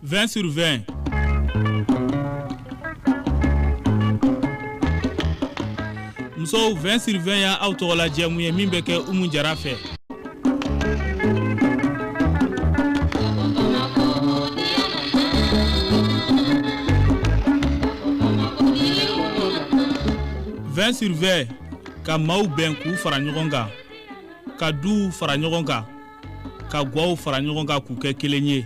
20 sur 20 musow 20 sur 20 y' aw tɔgɔ la jɛmu ye min bɛ kɛ umu jara fɛ 20 sur 20 ka maaw bɛn k'u fara ɲɔgɔn kan ka duw fara ɲɔgɔn kan ka gwaw fara ɲɔgɔn kan k'u kɛ kelen ye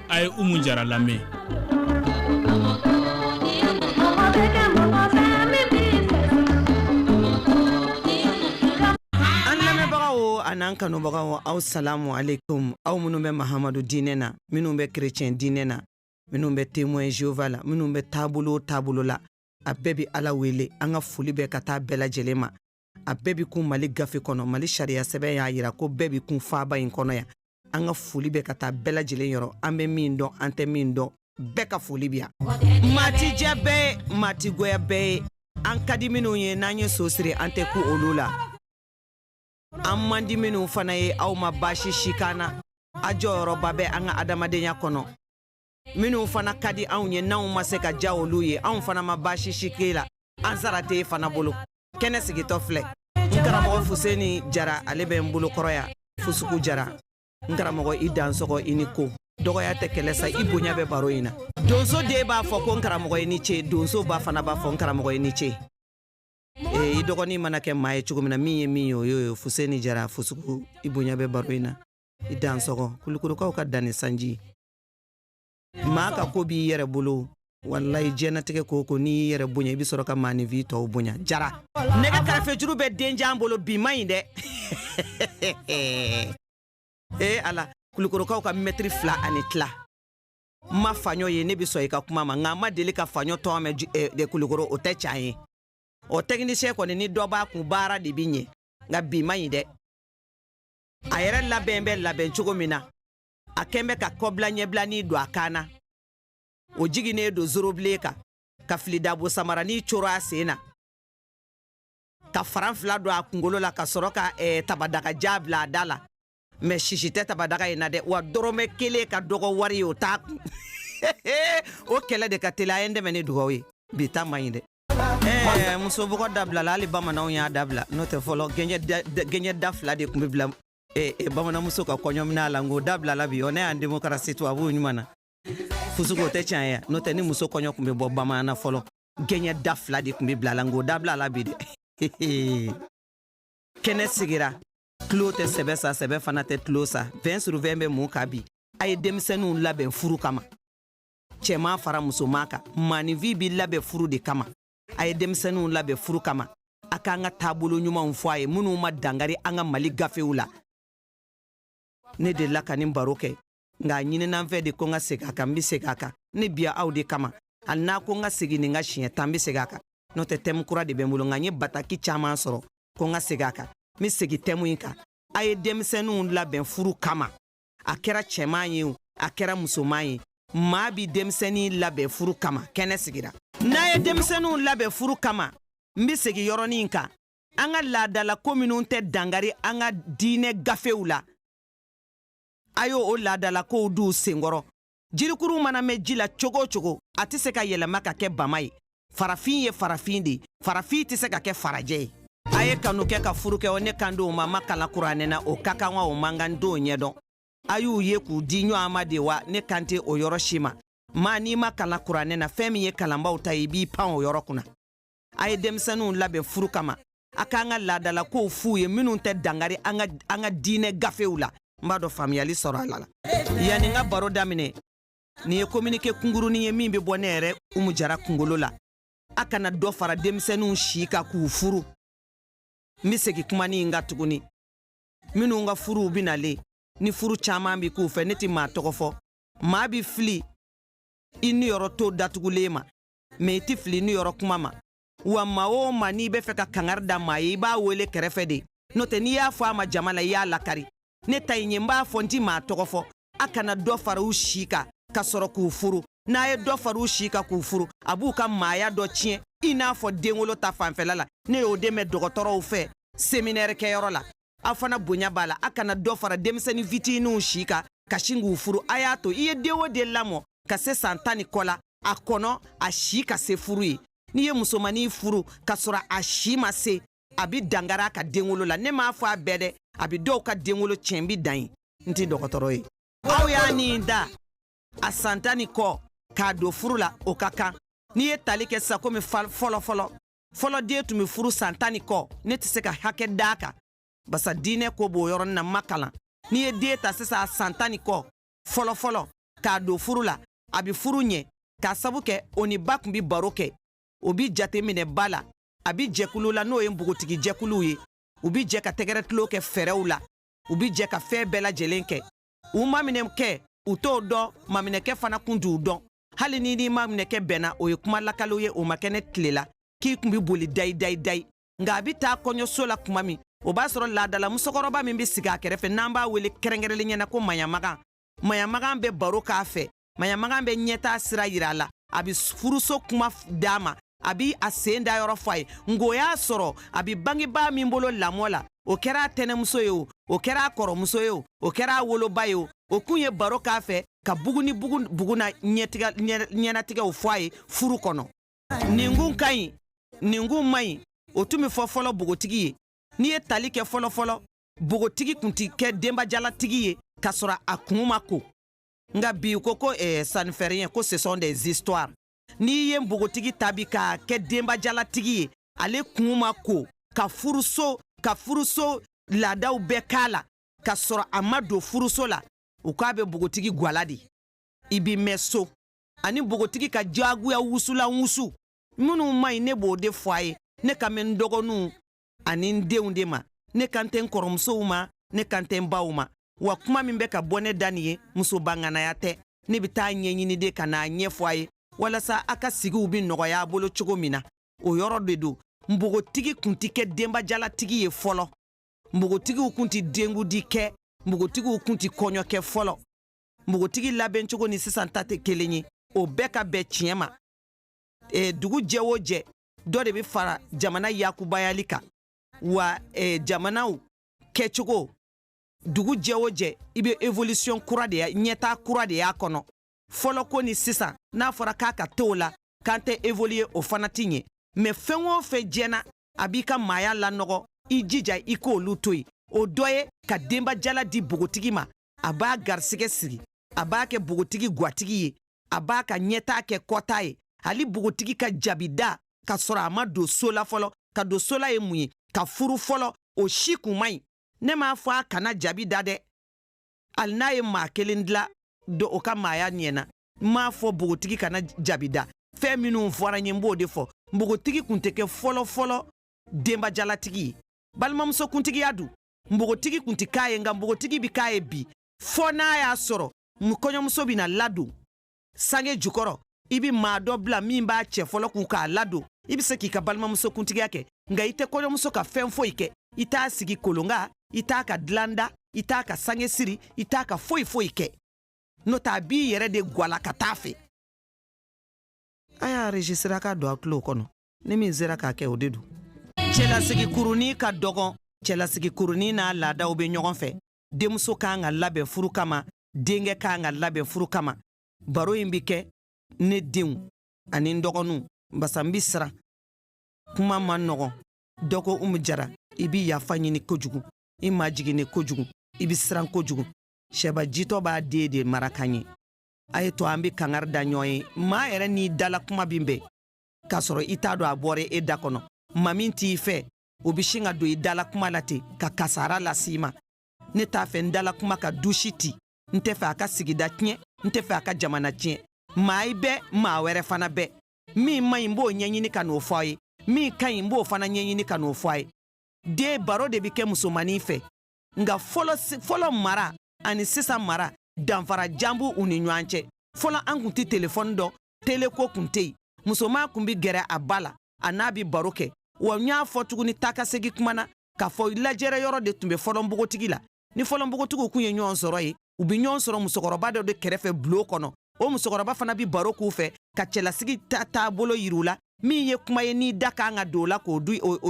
a ye umu jara lamɛn an lamɛnbagaw an'an kanubagaw aw salamu aleykum aw minnu bɛ mahamadu diinɛ na minnu bɛ kerecɛn diinɛ na minnu bɛ temoin jehova la minnu bɛ taabolo taabolo la a bɛɛ bi ala wele an ka foli bɛ ka taa bɛɛ lajɛlen ma a bɛɛ bɛ kun mali gafe kɔnɔ mali sariya sɛbɛn y'a jira ko bɛɛ bɛ kun faaba in kɔnɔ yan an ka foli bɛ ka taa bɛɛ lajɛlen yɔrɔ an bɛ min dɔn an tɛ min dɔn bɛɛ ka foli bɛ yan maa tɛ diya bɛɛ ye maa tɛ goya bɛɛ ye an ka di minnu ye n'an ye so siri an tɛ ku olu la an man di minnu fana ye aw ma baasi si k'an na a jɔyɔrɔba bɛ an ka adamadenya kɔnɔ minnu fana ka di anw ye n'anw ma se ka diya olu ye anw fana ma baasi si k'e la an sara tɛ e fana bolo kɛnɛ sigitɔ filɛ n karamɔgɔ fuseni jara ale bɛ n bolo kɔrɔ yan fusuku jara n karamɔgɔ i dansɔgɔ i ni ko dɔgɔya tɛ kɛlɛ sa i bonya bɛ baro in na donso den b'a fɔ ko n karamɔgɔ i ni ce donso ba fana b'a fɔ n karamɔgɔ i ni ce ee i dɔgɔnin mana kɛ maa ye cogo min na min ye min ye o y'o ye fuseni jara fusuku i bonya bɛ baro in na i dansɔgɔ kulukorokaw ka danni sanji maa ka ko b'i yɛrɛ bolo walayi jɛnatigɛ ko ko n'i yɛrɛ bonya i bɛ sɔrɔ ka maaninfin tɔw bonya jara ne ka karafejuru bɛ denjan bolo bi man ɲi dɛ ee ala kulukorokaw ka mɛtiri fila ani tila n ma faɲɔ ye ne bɛ sɔn i ka kuma ma nka n ma deli ka faɲɔ tɔgɔ mɛn eh, de kulukoro o tɛ can ye o tɛkinisiyɛn kɔni ni dɔ b'a kun baara de bɛ ɲɛ nka bi man ɲi dɛ a yɛrɛ labɛn bɛ labɛn cogo min na a kɛn bɛ ka kɔbila ɲɛbilani don a kan na o jiginnen don zorobilen kan ka filidabo samarani coro a sen na ka faran fila don a kungolo la ka sɔrɔ ka eh, tabadaga ja bila a da la mɛ sisi tɛ tabadaga in na dɛ wa dɔrɔmɛ kelen ka dɔgɔ wari ye o t'a kun o kɛlɛ de ka teli a ye n dɛmɛ ni dugawu ye bi ta man ɲi dɛ eh, muso bugɔ dabilala hali bamananw y'a dabila n'o tɛ fɔlɔ gɛnjɛ da fila de tun bɛ bila e, e, bamananmuso ka kɔɲɔminan la nk'o dabilala bi ɔ ne y'an demokarasi tubabuw ɲuman na fusuko tɛ tiɲɛ ye n'o tɛ ni muso kɔɲɔ tun bɛ bɔ bamanan na fɔlɔ gɛɲɛ da fila de tun bɛ bila a la nk'o dabilala bi dɛ kɛnɛ sigira tulon tɛ sɛbɛ sa sɛbɛ fana tɛ tulon sa vɛn sur vɛn bɛ mun kan bi a ye denmisɛnninw labɛn furu kama cɛman fara musoman kan maaninfin b'i labɛn furu de kama a ye denmisɛnninw labɛn furu kama a k'an ka taabolo ɲumanw fɔ a ye minnu ma dangari an ka mali gafew la ne delila ka nin baro kɛ nka a ɲinina n fɛ de ko n ka segin a kan n bɛ segin a kan ne bi yan aw de kama hali n'a ko n ka segin nin kan siɲɛ tan n bɛ segin a kan n'o tɛ tɛmu kura de bɛ n bolo nka n ye bataki caman sɔrɔ ko n ka segin a kan n bɛ segin tɛmu in kan a ye denmisɛnninw labɛn furu kama a kɛra cɛman ye o a kɛra musoman ye maa bi denmisɛnnin labɛn furu kama kɛnɛ sigira n'a ye denmisɛnninw labɛn furu kama n bɛ segin yɔrɔnin kan an ka laadalako minw tɛ dangari an ka diinɛ gafew la a y'o laadalakow d'u senkɔrɔ jirikuru mana mɛn ji la cogo o cogo a tɛ se ka yɛlɛma ka kɛ bama ye farafin ye farafin de ye farafin tɛ se ka kɛ farajɛ ye a ye kanu kɛ ka furu kɛ o ne kan tɛ o ma n ma kalan kuranɛ na o ka kan wa o man kan n t'o ɲɛdɔn a y'u ye k'u di ɲɔgɔn ma de wa ne kan tɛ o yɔrɔ si ma maa n'i ma kalan kuranɛ na fɛn min ye kalanbaaw ta ye i b'i pan o yɔrɔ kunna a ye denmisɛnninw labɛn furu kama a k'an ka laadalakow f'u ye minnu tɛ dangari an ka an ka diinɛ gafew la n b'a dɔn faamuyali sɔrɔ a la la yanni n ka baro daminɛ nin ye kominike kungurunin ye min bɛ bɔ ne yɛrɛ umu jara kungolo la a kana dɔ fara denmisɛnninw si kan k'u furu n bɛ segin kumanin in kan tuguni minnu ka furuw bɛ nalen ni furu caman bɛ k'u fɛ ne tɛ maa tɔgɔ fɔ maa bɛ fili i niyɔrɔ to datugulen ma mɛ i tɛ fili i niyɔrɔ kuma ma wa maa o ma n'i bɛ fɛ ka kangari da maa ye i b'a wele kɛrɛfɛ de n'o tɛ n'i y'a fɔ a ma jama la i y'a lakari ne ta ye n b'a fɔ n ti maa tɔgɔ fɔ a kana dɔ far'u si kan ka sɔrɔ k'u furu n'a ye dɔ far'u si kan k'u furu a b'u ka maaya dɔ tiɲɛ i n'a fɔ denwolo ta fanfɛla la ne y'o de mɛn dɔgɔtɔrɔw fɛ seminɛrikɛyɔrɔ la aw fana bonya b'a la a kana dɔ fara denmisɛnnin fitininw si kan ka sin k'u furu a y'a to i ye den o den lamɔ ka se san tan ni kɔ la a kɔnɔ a si ka se furu ye n'i ye musomannin furu k'a sɔrɔ a si ma se a bi dangari a ka denwolo la ne m'a fɔ a bɛɛ dɛ a bi dɔw ka denwolo tiɲɛ n bi dan yen n tɛ dɔgɔtɔrɔ ye aw y'a nin da a san tan ni kɔ k'a don furu la o ka kan n'i ye tali kɛ sisan komi fɔlɔfɔlɔ fɔlɔ den tun be furu san tan ni kɔ ne tɛ se ka hakɛ da a kan basa diinɛ ko b'o yɔrɔnin na n m'a kalan n'i ye den ta sisan san tan ni kɔ fɔlɔfɔlɔ k'a don furu la a be furu ɲɛ k'a sabu kɛ o ni ba kun be baro kɛ o bi jate minɛ ba la a bi jɛkulu la n'o ye npogotigi jɛkuluw ye u bi jɛ ka tɛgɛrɛ tulon kɛ fɛɛrɛw la u bi jɛ ka fɛn bɛɛ lajɛlen kɛ u maminɛkɛ u t'o dɔn maminɛkɛ fana kun t'u dɔn hali n'i n'i maminɛkɛ bɛnna o ye kuma lakalen ye o ma kɛ ne tile la k'i kun bi boli dayi dayi dayi nka a bi taa kɔɲɔso la kuma min o b'a sɔrɔ laadala musokɔrɔba min bɛ sigi a kɛrɛfɛ n'an b'a wele kɛrɛnkɛrɛnlenya na ko maɲamagan maɲamagan bɛ baro k'a fɛ maɲamagan bɛ ɲɛtaa sira yira a la a bɛ furuso kuma d'a ma a bi a sen da yɔrɔ fɔ a ye nk'o y'a sɔrɔ a bi bangebaa min bolo lamɔ la o kɛra a tɛnɛmuso ye o o kɛra a kɔrɔmuso ye o o kɛra a woloba ye o o kun ye baro k'a fɛ ka bugu ni bugu bugu na ɲɛnatigɛw fɔ a ye furu kɔnɔ nin kun ka ɲi nin kun man ɲi o tun bɛ fɔ fɔlɔ bogotigi ye n'i ye tali kɛ fɔlɔfɔlɔ bogotigi kun ti kɛ denbajalatigi ye k'a sɔrɔ a kun ma ko nka bi u ko ko eh, ça ne fait rien ko ce sont des histoires n'i ye npogotigi ta bi k'a kɛ denbajalatigi ye ale kun ma ko ka furuso ka furuso laadaw bɛɛ k'a la ka sɔrɔ a ma don furuso la u k'a bɛ npogotigi gwala de i b'i mɛn so ani npogotigi ka diyagoya wusulan wusu minnu man ɲi ne b'o de fɔ a ye ne kan bɛ n dɔgɔninw ani n denw de ma ne kan tɛ n kɔrɔmusow ma ne kan tɛ n baw ma wa kuma min bɛ ka bɔ ne da nin ye musoba ŋanaya tɛ ne bɛ t'a ɲɛɲini de ka n'a ɲɛfɔ a ye walasa a ka sigiw bɛ nɔgɔya a bolo cogo min na o yɔrɔ de don npogotigi kun tɛ kɛ denbajalatigi ye fɔlɔ npogotigiw kun tɛ denkundi kɛ npogotigiw kun tɛ kɔɲɔ kɛ fɔlɔ npogotigi labɛn cogo ni sisan ta tɛ kelen ye o bɛɛ ka bɛn tiɲɛ ma e, dugu jɛ o jɛ dɔ de bɛ fara jamana ya kunbayali kan wa eh, jamanaw kɛcogo dugu jɛ o jɛ i bɛ evolution kura de ɲɛtaa kura de y'a kɔnɔ fɔlɔ ko ni sisan n'a fɔra k'a ka to o la k'an tɛ evoluye o fana tɛ ɲɛ mɛ fɛn o fɛn jɛna a b'i ka maaya lanɔgɔ i jija i k'olu to yen o dɔ ye ka denbajala di bogotigi ma a b'a garisɛgɛ siri a b'a kɛ bogotigi gwatigi ye a b'a ka ɲɛtaa kɛ kɔtaa ye hali bogotigi ka jabi da ka sɔrɔ a ma don so la fɔlɔ ka don so la ye mun ye ka furu fɔlɔ o si kun man ɲi ne m'a fɔ a kana jabi da dɛ hali n'a ye maa kelen dila don o ka maaya ɲɛ na n m'a fɔ bogotigi kana jabi da fɛn minnu fɔra n ye n b'o de fɔ npogotigi kun tɛ kɛ fɔlɔ-fɔlɔ denbajalatigi ye balimamusokuntigiya dun npogotigi kun tɛ k'a ye nka npogotigi bɛ k'a ye bi fɔ n'a y'a sɔrɔ kɔɲɔmuso bɛna ladon sange jukɔrɔ i bɛ maa dɔ bila min b'a cɛ fɔlɔ kun k'a ladon i bɛ se k'i ka balimamuso kuntigiya kɛ nka i tɛ kɔɲɔmuso ka fɛn foyi kɛ i t'a sigi kolon kan i t'a ka dilan da i t'a ka sange siri i t'a ka foyi foyi kɛ n'o tɛ a b'i yɛrɛ de gwala ka taa fɛ a y'a rejisira k'a don a tulo kɔnɔ ni min sera k'a kɛ o de don cɛlasigi kurunin ka dɔgɔn cɛlasigi kurunin n'a laadaw bɛ ɲɔgɔn fɛ denmuso kan ka labɛn furu kama denkɛ kan ka labɛn furu kama baro in bɛ kɛ ne denw ani n dɔgɔninw basa n bɛ siran kuma man nɔgɔn dɔ ko umu jara i bɛ yafa ɲini kojugu i majiginni kojugu i bɛ siran kojugu sɛba jitɔ b'a den de mara ka ɲɛ a ye to an bɛ kangari da ɲɔgɔn ye maa yɛrɛ n'i dala kuma bɛ bɛn k'a sɔrɔ i t'a dɔn a bɔra e da kɔnɔ maa min t'i fɛ o bɛ sin ka don i dala kuma la ten ka kasara lase i ma ne t'a fɛ n dala kuma ka du si ti n tɛ fɛ a ka sigida tiɲɛ n tɛ fɛ a ka jamana tiɲɛ maa i bɛɛ maa wɛrɛ fana bɛɛ min man ɲi n b'o ɲɛɲini ka n'o fɔ a ye min ka ɲi n b'o fana ɲɛɲini ka n'o fɔ a ye den baro de bɛ kɛ musomannin fɛ nka fɔlɔ fɔlɔ mara ani sisan mara danfara jan b'u u ni ɲɔgɔn cɛ fɔlɔ an kun tɛ telefɔni dɔn teleko kun tɛ yen musoman kun bɛ gɛrɛ a ba la a n'a bɛ baro kɛ wa n y'a fɔ tuguni taakasegin kuma na k'a fɔ lajɛrɛ yɔrɔ de tun bɛ fɔlɔ npogotigi la ni fɔlɔ npogotigiw kun ye ɲɔgɔn sɔrɔ yen u bɛ ɲɔgɔn sɔrɔ musokɔrɔba dɔ de kɛrɛfɛ bulon kɔnɔ o musokɔrɔba fana bɛ baro k'u fɛ ka cɛlasigi ta taabolo yir'u la min ye kuma ye n'i da kan ka don o la k'o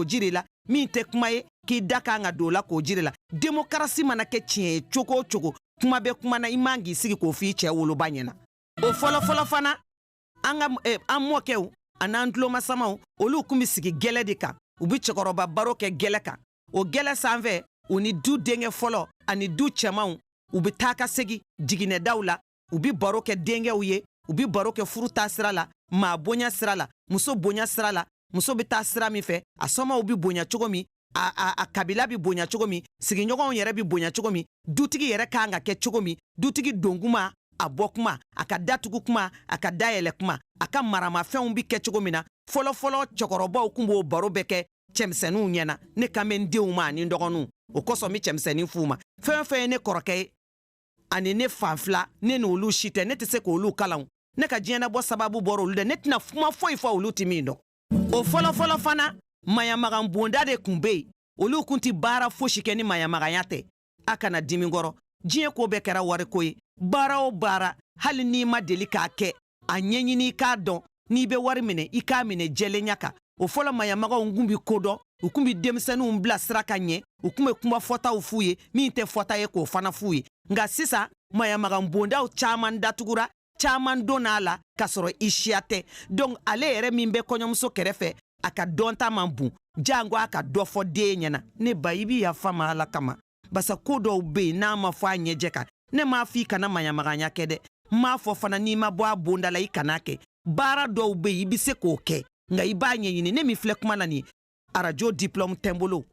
jir'i la min tɛ kuma ye k'i da kan ka don o la k'o jir'i la demokarasi mana kɛ tiɲɛ ye cogo o cogo kuma bɛ kuma na i man k'i sigi k'o f'i cɛ woloba ɲɛna o fɔlɔfɔlɔ fana an ka eh, an mɔkɛw an'an tulomasamaw olu kun bɛ sigi gɛlɛ de kan u bɛ cɛkɔrɔba baro kɛ gɛlɛ kan o gɛlɛ sanfɛ u ni du denkɛ fɔlɔ ani du cɛmanw u bɛ taa ka segin jiginɛdaw la u bɛ baro kɛ denkɛw ye u bɛ baro kɛ furu taa sira la maa bonya sira la muso bonya sira la muso bɛ ta sira min fɛ a sɔmaw bɛ bonya cogo min a, a, a kabila bi bonya cogo min sigiɲɔgɔnw yɛrɛ bi bonya cogo min dutigi yɛrɛ ka kan ka kɛ cogo min dutigi don kuma a bɔ kuma a ka datugu kuma a ka dayɛlɛ kuma a ka maramafɛnw bi kɛ cogo min na fɔlɔfɔlɔ cɛkɔrɔbaw kun b'o baro bɛɛ kɛ cɛmisɛnninw ɲɛna ne kan bɛ n denw ma ani n dɔgɔninw o kosɔn n bɛ cɛmisɛnnin f'u ma fɛn fɛn ye ne kɔrɔkɛ ye ani ne fa filan ne n'olu si tɛ ne tɛ se k'olu kalan ne ka diɲɛnabɔ sababu bɔra olu dɛ ne tɛna kuma foyi fɔ olu tɛ min dɔn o fɔlɔfɔlɔ fana maɲamagan bonda de kun be yen olu kun ti baara fosi kɛ ni maɲamaganya tɛ a kana dimi kɔrɔ diɲɛ ko bɛɛ kɛra wariko ye baara o baara hali n'i ma deli k'a kɛ a ɲɛɲini i k'a dɔn n'i bɛ wari minɛ i k'a minɛ jɛlenya kan o fɔlɔ maɲamagaw kun bi ko dɔn u kun bi denmisɛnninw bila sira ka ɲɛ u kun be kuma fɔtaw f'u ye min tɛ fɔta ye k'o fana f'u ye nka sisan maɲamagan bondaw caaman datugura caman donna a la k'a sɔrɔ i siya tɛ donc ale yɛrɛ min bɛ kɔɲɔmuso kɛrɛfɛ a ka dɔnta man bon jango a ka dɔ fɔ den ɲɛna ne ba i bi yafa n ma ala kama basa ko dɔw be yen n'a ma fɔ a ɲɛjɛ kan ne m'a fɔ i kana maɲamaganya kɛ dɛ n m'a fɔ fana n'i ma bɔ a bonda la i kana a kɛ baara dɔw be yen i be se k'o kɛ nka i b'a ɲɛɲini ne min filɛ kuma na nin arajo diplɔmu tɛ n bolo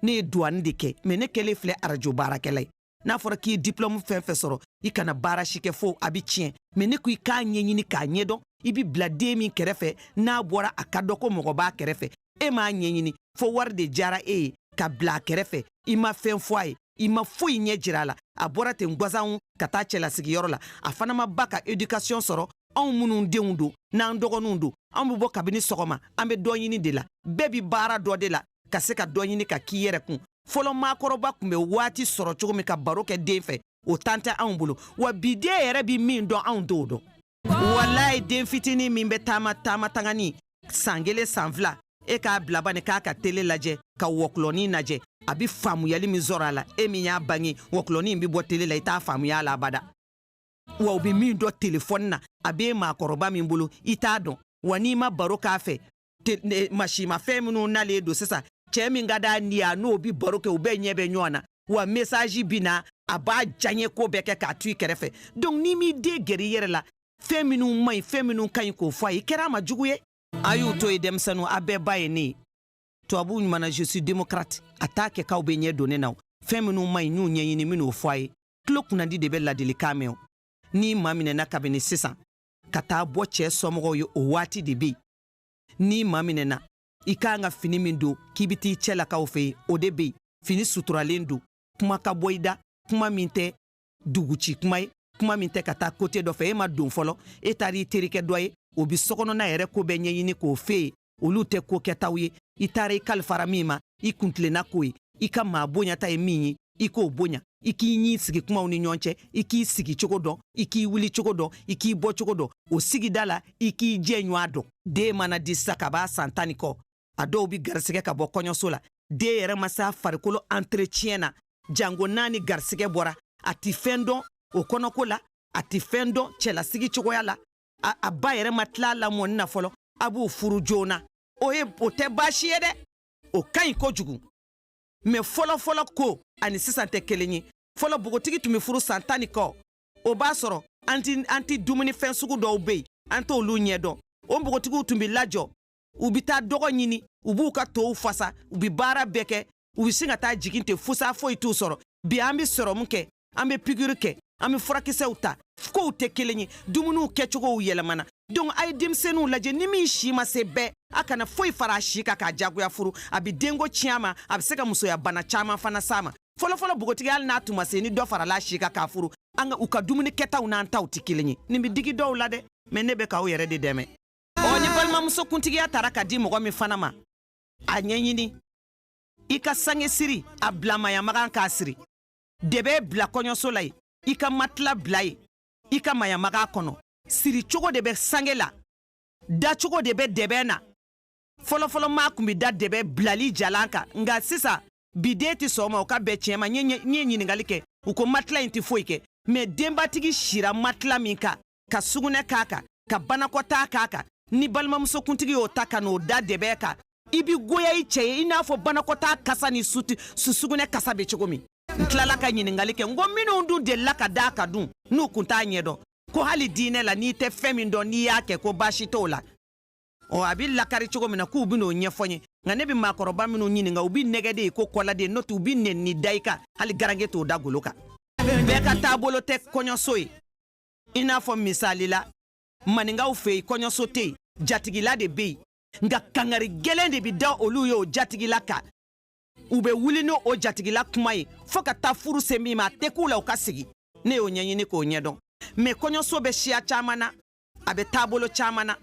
ne ye duwani de kɛ mɛ ne kɛlen filɛ arajo baarakɛla ye n'a fɔra k'i ye diplɔmu fɛn fɛn sɔrɔ i kana baara si kɛ fo a bɛ tiɲɛ mɛ ne ko i k'a ɲɛɲini k'a ɲɛdɔn i bi bila den min kɛrɛfɛ n'a bɔra a k'a dɔn ko mɔgɔ b'a kɛrɛfɛ e m'a ɲɛɲini fo wari de diyara e ye ka bila a kɛrɛfɛ i ma fɛn fɔ a ye i ma foyi ɲɛjira a la a bɔra ten gwansan ka taa cɛlasigiyɔrɔ la a fana ma ba ka edikasiyɔn sɔrɔ anw minnu denw don n'an dɔgɔninw don an bɛ bɔ kabini sɔgɔma an bɛ dɔ ɲini de la bɛɛ bi baara dɔ de la ka se ka dɔ ɲini ka k'i yɛrɛ kun fɔlɔ maakɔrɔba kun bɛ waati sɔrɔ cogo min ka baro kɛ den fɛ o tan tɛ anw bolo wa bi den yɛrɛ bi min dɔn anw t'o dɔn walayi den fitinin min bɛ taama taama tangani san kelen san fila e k'a bila bani k'a ka tele lajɛ ka wɔkulɔnin lajɛ a bi faamuyali min sɔrɔ a la e min y'a bange wɔkulɔnin bi bɔ tele la i t'a faamuya a la abada wa u bɛ min dɔn telefɔni na a b'i maakɔrɔba min bolo i t'a dɔn wa n'i ma baro k'a fɛ masinmafɛn minnu nalen don sisan cɛɛ min ka d'a ni y'a n'o bi baro kɛ u bɛɛ ɲɛ bɛ ɲɔgɔn na wa mesaji bi na a b'a diyaɲe ko bɛɛ kɛ k'a to i kɛrɛfɛ donc n'i m'i den gɛrɛ i yɛrɛ la fɛn minnu man ɲi fɛn minnu ka ɲi k'o fɔ a ye kɛra a ma jugu ye a y'u to yen denmisɛnninw a bɛɛ ba ye ne ye tubabuw ɲumanna je suis démocrate a t'a kɛ k'aw bɛ ɲɛ don ne na o fɛn minnu man ɲi n y'u ɲɛɲini n ben'o fɔ a ye tulo kunnadi de bɛ ladilikan mɛn o n'i maminɛna kabini sisan ka taa bɔ cɛɛ somɔgɔw ye o waati de be yen n'i maminɛna i ka kan ka fini min don k'i bɛ t'i cɛlakaw fɛ yen o de bɛ yen fini suturalen don kuma ka bɔ i da kuma min tɛ duguci kuma ye kuma min tɛ ka taa kote dɔ fɛ e ma don fɔlɔ e taara i terikɛ dɔ ye o bɛ sokɔnɔna yɛrɛ ko bɛɛ ɲɛɲini k'o f'e ye olu tɛ ko kɛtaw ye i taara i kalifara min ma i kuntilenna k'o ye i ka maa bonyata ye min ye i k'o bonya i k'i ɲi sigi kumaw ni ɲɔgɔn cɛ i k'i sigi cogo dɔn i k'i wuli cogo dɔn i k'i bɔ cogo dɔn o sigida la i k'i jɛɲɔgɔn dɔn den mana di sisan ka b'a san tan ni kɔ a dɔw bi garisigɛ ka bɔ kɔɲɔso la den yɛrɛ ma s'a farikolo entretien na jango n'a ni garisigɛ bɔra a tɛ fɛn dɔn o kɔnɔko la a tɛ fɛn dɔn cɛlasigi cogoya la a ba yɛrɛ ma tila a lamɔni na fɔlɔ a b'o furu joona o ye o tɛ baasi ye dɛ o ka ɲi kojugu mɛ fɔlɔfɔlɔ ko ani sisan tɛ kelen ye fɔlɔ bogotigi tun bɛ furu san tan ni kɔ o b'a sɔrɔ an ti an ti dumuni fɛn sugu dɔw bɛ yen an t'olu ɲɛdɔn o npogotigiw tun bɛ lajɔ u bɛ taa dɔgɔ ɲini u b'u ka tow fasa u bɛ baara bɛɛ kɛ u bɛ sin ka taa jigin ten fusa foyi t'u sɔrɔ bi an bɛ sɔrɔmu kɛ an bɛ pikiri kɛ an bɛ furakisɛw ta kow tɛ kelen ye dumuniw kɛcogow yɛlɛmana donc a ye denmisɛnninw lajɛ ni min si ma se bɛɛ a kana foyi fara a si kan k'a jagoya furu a bɛ denko tiɲɛ a ma a bɛ se ka musoya bana caman fana s'a ma fɔlɔfɔlɔ bogotigi hali n'a tun ma se ni dɔ farala a si kan k'a furu an ka u ka dumuni kɛtaw n'an taw tɛ kelen ye nin bɛ digi dɔw la dɛ mɛ ne bɛ k'aw yɛrɛ de dɛmɛ ɔ ni balimamusokuntigiya tara ka di mɔgɔ min fana ma a ɲɛɲini i ka sange siri a bila mayamagan k'a siri dɛbɛn bila kɔɲɔso la yen i ka matila bila yen i ka mayamaga kɔnɔ siricogo de bɛ sange la dacogo de bɛ dɛbɛn na fɔlɔfɔlɔ maa tun bɛ da dɛbɛn bilali jalan kan nka sisan bi den tɛ sɔn ma u k'a bɛɛ tiɲɛ mɛ n ye ɲininkali kɛ u ko matila in tɛ foyi kɛ mɛ denbatigi sira matila min kan ka sugunɛ k'a kan ka banakɔtaa k'a kan ni balimamusokuntigi y'o ta ka n'o da dɛbɛn kan i bi goya i cɛ ye i n'a fɔ banakɔtaa kasa ni su su sugunɛ kasa bɛ cogo min n tilala ka ɲininkali kɛ n ko minnu dun delila ka d'a kan dun n'u kun t'a ɲɛdɔn ko hali diinɛ la n'i tɛ fɛn min dɔn n'i y'a kɛ ko baasi t'o la ɔ a bɛ lakari cogo min na k'u bɛn'o ɲɛfɔ n ye nka ne bɛ maakɔrɔba minnu ɲininka u bɛ nɛgɛ de ye ko kɔladen n'o tɛ u bɛ nɛnini da i kan hali garanke t'o da golo kan bɛɛ ka taabolo tɛ kɔɲɔso ye i n'a fɔ misali la maninkaw fɛ yen kɔɲɔso tɛ yen jatigila de bɛ yen nka kangari gɛlɛn de bɛ da olu ye o jatigila kan u bɛ wuli ni o jatigila kuma ye fo ka taa furu se min ma a tɛ k'u la u ka sigi ne y'o ɲɛɲini k'o ɲɛdɔn mɛ kɔɲɔso bɛ siya caman na a bɛ taabolo caman na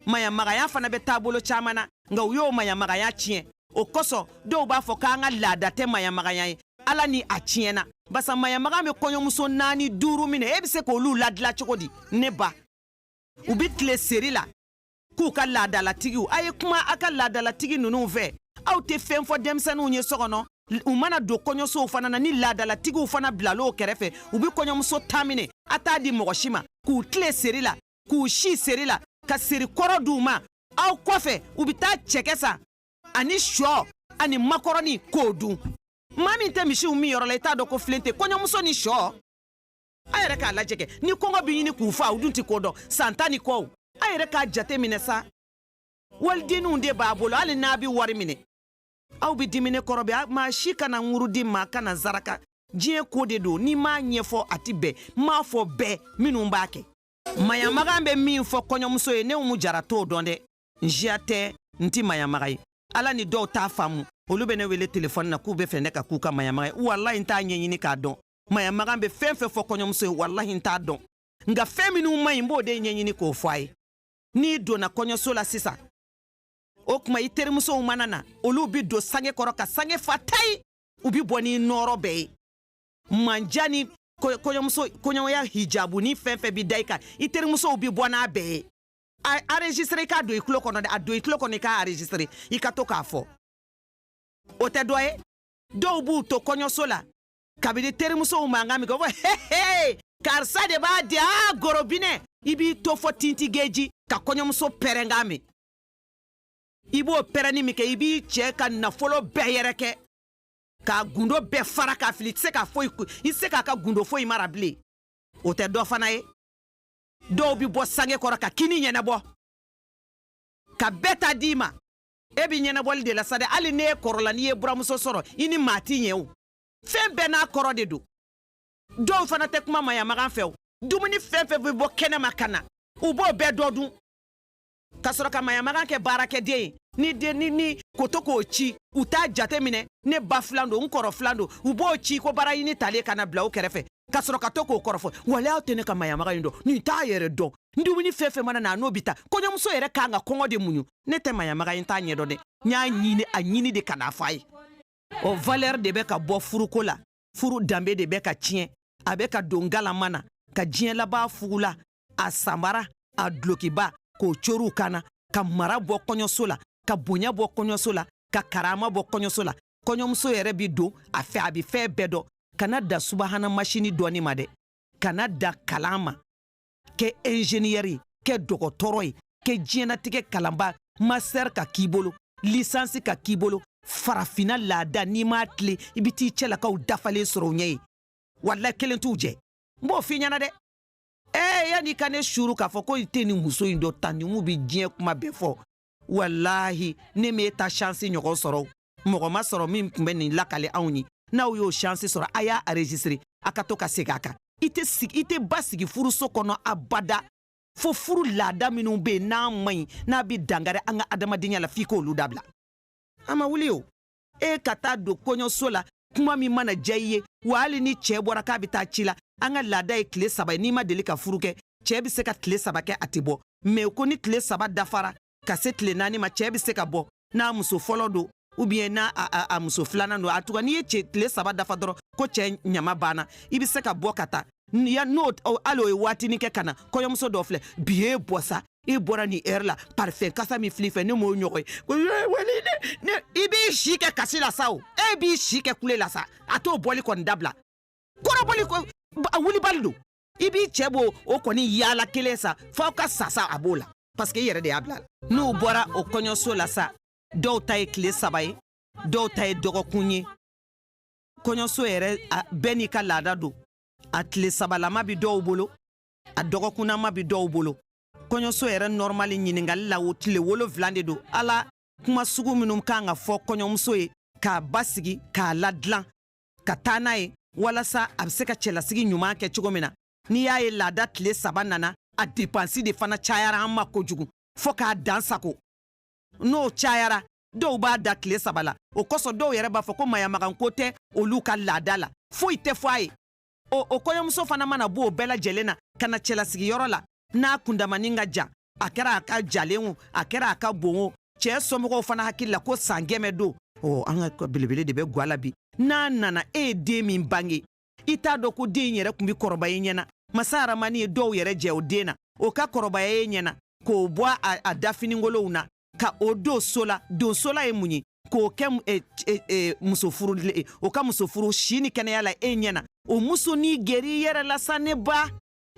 mayamagaya fana bɛ taabolo caman na nka u y'o mayamagaya tiɲɛ o kosɔn dɔw b'a fɔ k'an ka laada tɛ mayamagaya ye ala ni a tiɲɛna barisa mayamaga bɛ kɔɲɔmuso naani duuru minɛ e bɛ se k'olu ladila cogo di ne ba u bɛ tile seri la k'u ka laadalatigiw a ye kuma a ka laadalatigi ninnu fɛ aw tɛ fɛn fɔ denmisɛnninw ye so kɔnɔ u mana don kɔɲɔsow fana na ni laadalatigiw fana bilala u kɛrɛfɛ u bɛ kɔɲɔmuso tan minɛ a t'a di mɔgɔ si ma k'u tile seri la k'u si seri la ka seri kɔrɔ di u ma aw kɔfɛ u bɛ taa cɛkɛ san ani shɔ ani makɔrɔni k'o dun maa min tɛ misiw min yɔrɔ la i t'a dɔn ko filen tɛ kɔɲɔmuso ni shɔ a yɛrɛ k'a lajɛ kɛ ni kɔngɔ bɛ ɲini k'u fa u dun tɛ ko dɔn san tan ni kɔw a yɛrɛ k'a jate minɛ sa walidenninw de b'a bolo hali n'a bɛ wari minɛ aw bɛ dimi ne kɔrɔ bɛ maa si kana muruti maa kana zaraka diɲɛ ko de don ni n m'a ɲɛfɔ a ti bɛn n m'a fɔ bɛɛ minnu b'a kɛ maɲamagan bɛ min fɔ kɔɲɔmuso ye ne umu jara t'o dɔn dɛ n siya tɛ n ti maɲamaga ye ala ni dɔw t'a faamu olu bɛ ne wele telefɔni na k'u b'a fɛ ne ka k'u ka maɲamaga ye walahi n t'a ɲɛɲini k'a dɔn maɲamagan bɛ fɛn fɛn fɔ kɔɲɔmuso ye walahi n t'a dɔn nka fɛn minnu man ɲi n b'o de ɲɛɲini k'o fɔ a ye n'i donna kɔɲɔso la sisan o tuma i terimusow mana na olu bi don sange kɔrɔ ka sange fa tayi u bi bɔ n'i nɔɔrɔ bɛɛ ye manja ni kɔɲɔmuso kɔɲɔmaya hijabu ni fɛn fɛn bi da i kan i terimusow bi bɔ n'a bɛɛ ye a enregistré i k'a don i tulo kɔnɔ dɛ a don i tulo kɔnɔ i k'a enregistré i ka to k'a fɔ o tɛ dɔ ye dɔw b'u to kɔɲɔso la kabini terimusow mankan minkɛ u ko hehe karisa de b'a di a gorobinɛ i b'i to fɔ tintigeji ka kɔɲɔmuso pɛrɛnkan min i b'o pɛrɛnni min kɛ i b'i cɛ ka nafolo bɛɛ yɛrɛkɛ k'a gundo bɛɛ fara k'a fili i tɛ se ka foyi i tɛ se k'a ka gundo foyi mara bilen o tɛ dɔ fana ye dɔw bɛ bɔ sange kɔrɔ ka kini ɲɛnabɔ ka bɛɛ ta d'i ma e bɛ ɲɛnabɔli de la sa dɛ hali n'e kɔrɔla n'i ye buramuso sɔrɔ i ni maa t'i ɲɛ o fɛn bɛɛ n'a kɔrɔ de don dɔw fana tɛ kuma maɲamagan fɛ o dumuni fɛn fɛn bɛ bɔ kɛnɛma ka na u b'o bɛɛ dɔ dun ka sɔrɔ ka maɲamagan kɛ baarakɛden ye ni den ni ni ko to k'o ci u t'a jate minɛ ne ba filan don n kɔrɔ filan don u b'o ci ko baaraɲini talen ka na bila u kɛrɛfɛ ka sɔrɔ ka to k'o kɔrɔfɔ walayi aw tɛ ne ka maɲamaga in dɔn nin t'a yɛrɛ dɔn n dumuni fɛn fɛn mana na a n'o bɛɛ ta kɔɲɔmuso yɛrɛ kan ka kɔngɔ de muɲu ne tɛ maɲamaga in ta ɲɛdɔn dɛ n y'a ɲini a ɲini de ka n'a fɔ a ye o valeur de bɛ ka bɔ furuko la furu danbe de bɛ ka tiɲɛ a bɛ ka don galama na ka diɲɛ laban fugula a sanbara a dulokiba k'o coriw ka na ka mara bɔ kɔɲɔso la ka bonya bɔ kɔɲɔso la ka karama bɔ kɔɲɔso la kɔɲɔmuso yɛrɛ bi don a fɛ a bi fɛn bɛɛ dɔn kana da subahana masini dɔnni ma dɛ kana da kalan ma kɛ enjeniyɛri ye kɛ dɔgɔtɔrɔ ye kɛ diɲɛnatigɛ kalanba masɛri ka k'i bolo lisansi ka k'i bolo farafina laada n'i m'a tilen i bi t'i cɛlakaw dafalen sɔrɔ u ɲɛ ye walayi kelen t'u jɛ n b'o f'i ɲɛna dɛ ee yanni i ka ne suru k'a fɔ ko i tɛ nin muso in dɔn tannimu bɛ diɲɛ kuma bɛɛ fɔ walahi ne m'e ta shansi ɲɔgɔn sɔrɔ mɔgɔ ma sɔrɔ min tun bɛ nin lakali anw ye n'aw y'o shansi sɔrɔ a y'a anrezisitire a ka to ka segin a kan i tɛ sigi i tɛ basigi furuso kɔnɔ abada fo furu laada minnu bɛ yen n'a man ɲi n'a bɛ dangari an ka adamadenya la f'i k'olu dabila a ma wuli o e ka taa don kɔɲɔso la kuma min mana diya i ye wa hali ni cɛɛ bɔra k'a be taa ci la an ka laada ye tile saba ye n'i ma deli ka furu kɛ cɛɛ be se ka tile saba kɛ a tɛ bɔ mɛ ko ni tile saba dafara ka se tile naani ma cɛɛ be se ka bɔ n'a muso fɔlɔ don ou bien n'a a, a, a muso filanan don antuka n'i ye cɛ tile saba dafa dɔrɔn ko cɛɛ ɲama banna i be se ka bɔ ka taa n'o hali o ye waatinin kɛ ka na kɔɲɔmuso dɔ filɛ bi ye bɔ sa e bɔra ni hɛrɛ la parifɛn kasa min fil'i fɛ ne m'o ɲɔgɔn ye i b'i si kɛ kasi la sa o e b'i si kɛ kule la sa a t'o bɔli kɔni dabila kɔrɔbɔli wulibali don i b'i cɛ b'o o kɔni yaala kelen sa f'aw ka sa sa a b'o la paseke i yɛrɛ de y'a bil'a la n'u bɔra o kɔɲɔso la sa dɔw ta ye tile saba ye dɔw ta ye dɔgɔkun ye kɔɲɔso yɛrɛ bɛɛ n'i ka laada don a tile sabalama bɛ dɔw bolo a dɔgɔkunnama bɛ dɔw bolo kɔɲɔso yɛrɛ nɔrɔmali ɲininkali la o tile wolonwula de don ala kuma sugu minnu kan ka fɔ kɔɲɔmuso ye k'a basigi k'a ladilan ka taa n'a ye walasa a bɛ se ka cɛlasigi ɲuman kɛ cogo min na n'i y'a ye laada tile saba nana a depansi de fana cayara an ma kojugu fo k'a dan sagon n'o cayara dɔw b'a dan tile saba la o kosɔn dɔw yɛrɛ b'a fɔ ko maɲamaganko tɛ olu ka laada la foyi tɛ fɔ a ye o o kɔɲɔmuso fana mana bɔ o bɛɛ lajɛlen na ka na cɛlasigiyɔrɔ la n'a kundamanin ka jan a kɛra a ka jalen o a kɛra a ka bon o cɛɛ somɔgɔw fana hakili la ko san kɛmɛ don ɔ an ka belebele de bɛ gwa la bi n'a nana e ye den min bange i t'a dɔn ko den yɛrɛ tun bɛ kɔrɔba ye ɲɛ na masa haramani ye dɔw yɛrɛ jɛ o den na o ka kɔrɔbaya ye ɲɛ na k'o bɔ a dafiningolow na ka o don so la don so la ye mun ye k'o kɛ eh, eh, eh, muso furu o ka muso furu si ni kɛnɛya la e ɲɛ na o musonin gɛrɛ i yɛrɛ la sa ne ba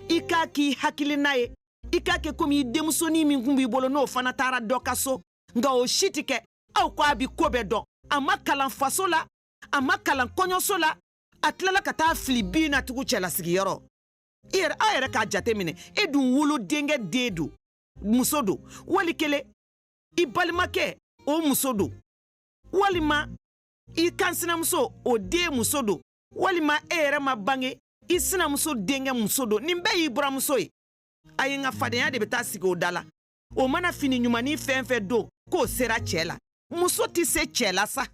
i k'a k'i hakilina ye i k'a kɛ komi i denmusonin min kun b'i bolo n'o fana taara dɔ ka so nka o si tɛ kɛ aw ko a bi ko bɛɛ dɔn a ma kalan faso la a ma kalan kɔɲɔso la a tilala ka taa fili bin na tugu cɛlasigiyɔrɔ i yɛrɛ aw yɛrɛ k'a jate minɛ e dun wolo denkɛ de don muso don wali kelen i balimakɛ o muso don walima i kan sinamuso o den muso don walima e yɛrɛ ma bange i sinamuso denkɛ muso don nin bɛɛ y'i buramuso ye ayi nka fadenya de bɛ taa sigi o da la o mana fini ɲumannin fɛn fɛn don k'o sera cɛɛ la muso tɛ se cɛɛ la sa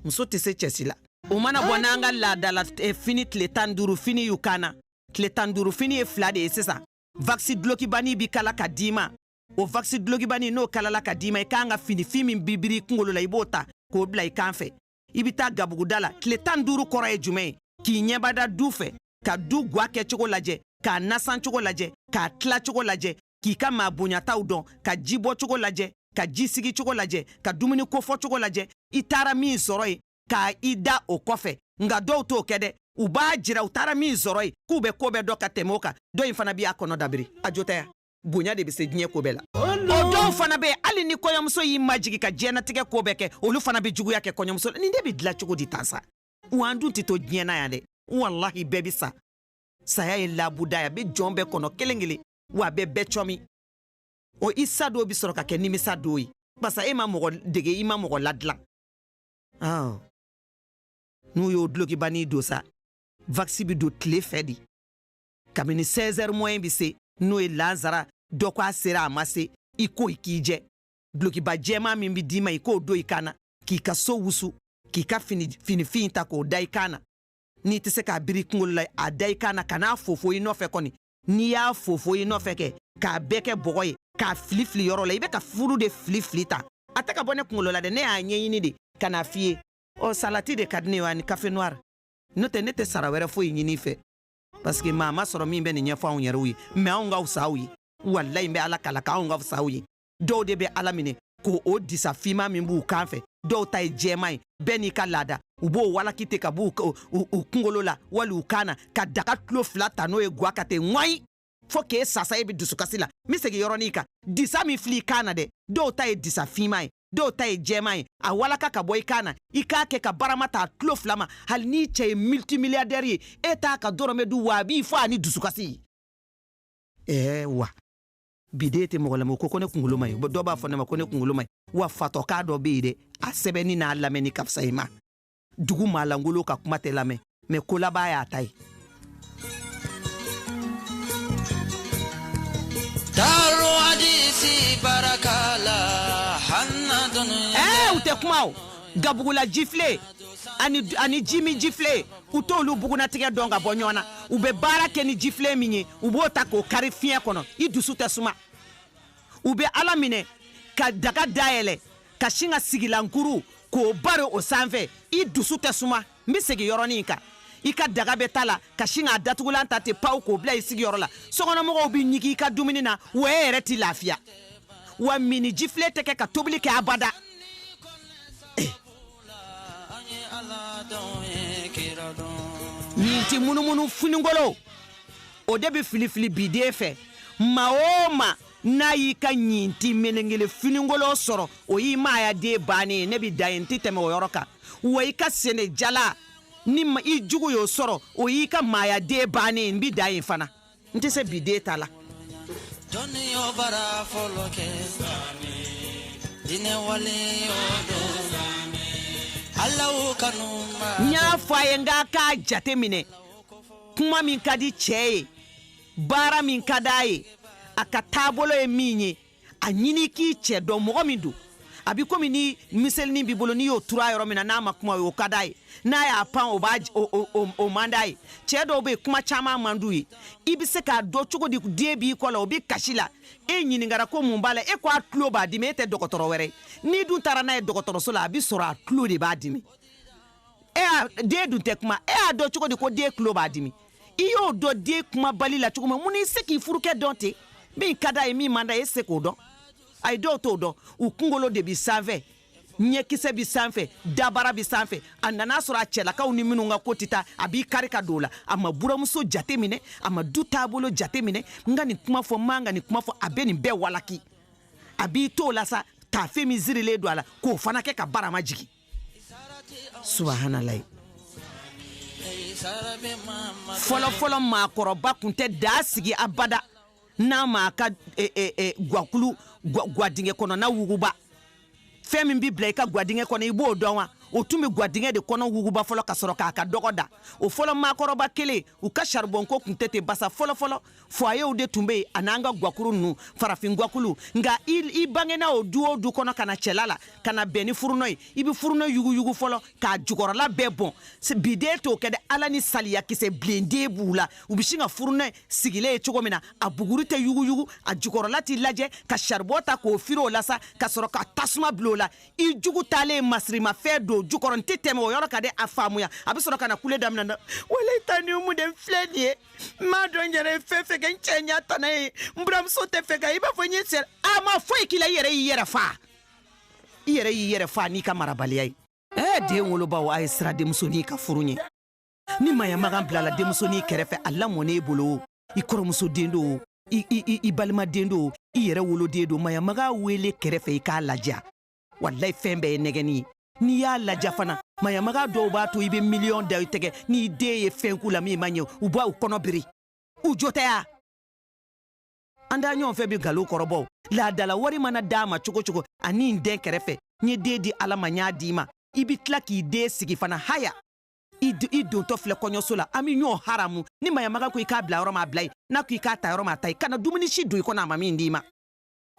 muso tɛ se cɛ si la o mana bɔ n'an ka laada la eh, fini tile tan duuru fini y'u kan na tile tan duuru fini ye fila de ye sisan Vaksi dulokibani bi kala ka d'i ma o vaksi dulokibani n'o kalala ka d'i ma i k'an ka finifin min bi biri i kungolo la i b'o ta k'o bila i kan fɛ i bɛ taa gabuguda la tile tan ni duuru kɔrɔ ye jumɛn ye k'i ɲɛbada du fɛ ka du gwa kɛcogo lajɛ k'a nasan cogo lajɛ k'a tila cogo lajɛ k'i ka maa bonyataw dɔn ka ji bɔ cogo lajɛ ka ji sigi cogo lajɛ ka dumuni kofɔ cogo lajɛ i taara min sɔrɔ yen ka i da o kɔfɛ nka dɔw t'o kɛ dɛ u b'a jira u taara min sɔrɔ yen k'u bɛ ko bɛɛ dɔn ka tɛmɛ o kan dɔ in fana b'a kɔnɔ dabiri a jo tɛ bonya de bɛ se diɲɛ ko bɛɛ la o dɔw fana bɛ yen hali ni kɔɲɔmuso y'i majigi ka diɲɛnatigɛ ko bɛɛ kɛ olu fana bɛ juguya kɛ kɔɲɔmuso la nin de bɛ dilan cogo di tan sa wa an dun tɛ to diɲɛ na yan dɛ walahi bɛɛ bɛ sa saya ye labuda ye a bɛ jɔn bɛɛ kɔnɔ kelen kelen wa a bɛ bɛɛ cɔmi o i sa don bɛ sɔrɔ ka kɛ nimisa don ye barisa e ma mɔgɔ dege i ma mɔgɔ ladilan Ɔ n'u y'o dulokibani don sa vakisi bɛ don tile fɛ de kabini 16 heures moyen bɛ se n'o ye lansara dɔ ko a sera a ma se i ko i k'i jɛ dulokiba jɛman min bɛ d'i ma i k'o don i kan na k'i ka so wusu k'i ka finifin ta k'o da i kan na n'i tɛ se k'a biri i kunkolo la a da i kan na kan'a fofo i nɔfɛ kɔni n'i y'a fofo i nɔfɛ kɛ k'a bɛɛ kɛ bɔgɔ ye k'a fili fili yɔrɔ la i bɛ ka furu de fili fili tan a tɛ ka bɔ ne kunkolo la dɛ ne y'a ɲɛɲini de ka na a f'i ye ɔ salati de ka di ne ye ani kafe noir n'o tɛ ne tɛ sara wɛrɛ foyi ɲini i fɛ parce que maa ma sɔrɔ min bɛ nin ɲɛfɔ anw yɛrɛw ye mɛ anw ka fisa aw ye walayi n bɛ ala kala k'anw ka fisa aw ye dɔw de bɛ ala minɛ ko o disa fiman min b'u kan fɛ dɔw ta ye jɛman ye bɛɛ n'i ka laada u b'o walaki ten ka b'u kungolo la wali u kan na ka daga tulo fila ta n'o ye gwa ka ten ŋɔyi fɔɔ k'e sa sa e be dusukasi la n be segi yɔrɔnin kan disa min fili i kan na dɛ dɔw ta ye disa fiman ye dɔw ta ye jɛman ye a walaka ka bɔ i kan na i k'a kɛ ka barama ta tulo fila ma hali n'i cɛ ye multimiliyadɛri ye e t'a ka dɔrɔmɛ dun wa a b'i fɔ ani dusukasi ɛɛ wa bi den tɛ mɔgɔ lamɛn ko ko ne kunkolo man ɲi dɔ b'a fɔ ne ma ko ne kunkolo man ɲi wa fatɔkan dɔ bɛ yen dɛ a sɛbɛnni n'a lamɛnni ka fisa i ma dugu maa lankolon ka kuma tɛ lamɛn mɛ ko laban y'a ta ye Daro hadisi baraka la hanna dunuya. Ɛɛ u tɛ kuma o gabugula jifile ani jimi jifile u t'olu bugunatigɛ dɔn ka bɔ ɲɔgɔn na u bɛ baara kɛ ni jifilen min ye u b'o ta k'o kari fiɲɛ kɔnɔ i dusu tɛ suma u bɛ ala minɛ ka daga dayɛlɛ ka sin ka sigilankuru k'o bari o sanfɛ i dusu tɛ suma n bɛ segin yɔrɔnin in kan i ka daga bɛ ta la ka sin k'a datugulan ta ten paw k'o bila i sigiyɔrɔ la sokɔnɔmɔgɔw bɛ ɲigi i ka dumuni na wa e yɛrɛ t'i lafiya wa minni jifilen tɛ kɛ ka tobili kɛ abada ɲintin munumunu finikolon o de bɛ filifili biden fɛ maa o maa n'a y'i ka ɲintin melengele finikolon sɔrɔ o y'i maaya de bannen ye ne bɛ dan yen n tɛ tɛmɛ o yɔrɔ kan wa i ka sene jala ni i jugu y'o sɔrɔ o y'i ka maaya de bannen ye n bɛ dan yen fana n tɛ se bi den ta la dɔnniya bara fɔlɔ kɛ diinɛ wale o don alaw kanu ma n y'a fɔ a ye n k'a k'a jate minɛ kuma min ka di cɛ ye baara min ka d'a ye a ka taabolo ye min ye a ɲini k'i cɛ dɔn mɔgɔ min don a bɛ komi ni miselinin b'i bolo n'i y'o tur'a yɔrɔ min na n'a ma kuma o ka d'a ye n'a y'a pan o b'a o man d'a ye cɛ dɔw bɛ yen kuma caman man d'u ye i bɛ se k'a dɔn cogo di den b'i kɔ la o bɛ kasi la e ɲininkara ko mun b'a la e ko a tulo b'a dimi e tɛ dɔgɔtɔrɔ wɛrɛ ye n'i dun taara n'a ye dɔgɔtɔrɔso la a bɛ sɔrɔ a tulo de b'a dimi e den dun tɛ kuma e y'a dɔn cogo di ko den tulo b'a dimi i y'o dɔn den kumabali la cogo min mun i se k'i furukɛ dɔn ten min ka d'a ye min man d'a ye se k'o dɔn a ye dɔw t'o dɔn u kunkolo de bi sanfɛ ɲɛkisɛ bi sanfɛ dabara bi sanfɛ a nana sɔrɔ a cɛlakaw ni minnu ka ko tɛ taa a b'i kari ka don la a ma buramuso jate minɛ a ma du taabolo jate minɛ n ka nin kuma fɔ man ka nin kuma fɔ a bɛ nin bɛɛ walaki a b'i t'o la sa taafe min sirilen don a la k'o fana kɛ ka barama jigin subahanalayi fɔlɔfɔlɔ maakɔrɔba tun tɛ daa sigi abada n'a m'a ka e, e, e, gwakulu gwadingɛ kɔnɔna wuguba fɛn min bɛ bila i ka gwadingɛ kɔnɔ i b'o dɔn wa o tun bɛ gwadingɛ de kɔnɔ wuguba fɔlɔ ka sɔrɔ k'a ka dɔgɔ da o fɔlɔ maakɔrɔba kelen u ka saribɔnko tun tɛ ten basa fɔlɔfɔlɔ fwayew de tun be yen an'an ka gwakuru nunu farafin gwakulu nka i bangena o du o du kɔnɔ ka na cɛla la ka na bɛn ni furunɔ ye i be furunɔ yuguyugu fɔlɔ k'a jukɔrɔla bɛɛ bɔn biden t'o kɛ dɛ ala ni saliya kisɛ bilennen b'u la u be sin ka furunɔ sigilen ye cogo min na a buguri tɛ yuguyugu a jukɔrɔla tɛ lajɛ ka saribɔn ta k'o firi o la sa ka sɔrɔ ka tasuma bil'o la i jugu talen masirimafɛn don jukɔrɔ n tɛ tɛmɛ o yɔrɔ kan dɛ a faamuya a be sɔrɔ ka na kule daminɛ walayi tanti umu de n filɛ nin ye n m'a dɔn n yɛrɛ ye fɛn fɛn kɛ n cɛ ɲa tana ye n buranmuso tɛ fɛ ka i b'a fɔ n ye sɛ a ma foyi k'i la i yɛrɛ y'i yɛrɛ faa i yɛrɛ y'i yɛrɛ faa n'i ka marabaliya ye ɛɛ den wolobaw a ye siran denmusonin ka furu ɲɛ ni mayamagan bilala denmusonin kɛrɛfɛ a lamɔn'e bolo i kɔrɔmuso den don i balima den don i yɛrɛ woloden don mayamaga wele kɛrɛfɛ i k'a ladiya walayi fɛn bɛɛ ye nɛgɛni ye n'i y'a ladiya fana mayamaga dɔw b'a to i bɛ miliyɔn da i tɛgɛ n'i den ye fɛn k'u la min man ɲɛ u b'u kɔnɔ biri u jo tɛ ya an da ɲɔgɔn fɛ bɛ galo kɔrɔbɔw laadala wari mana d'a ma cogo o cogo ani n den kɛrɛfɛ n ye den di ala ma n y'a d'i ma i bɛ tila k'i den sigi fana haya i dontɔ filɛ kɔɲɔso la an bɛ ɲɔgɔn haramu ni mayamaga ko i k'a bila yɔrɔ min a bila yen n'a ko i k'a ta yɔrɔ min a ta yen kana dumuni si don i kɔnɔ a ma min d'i ma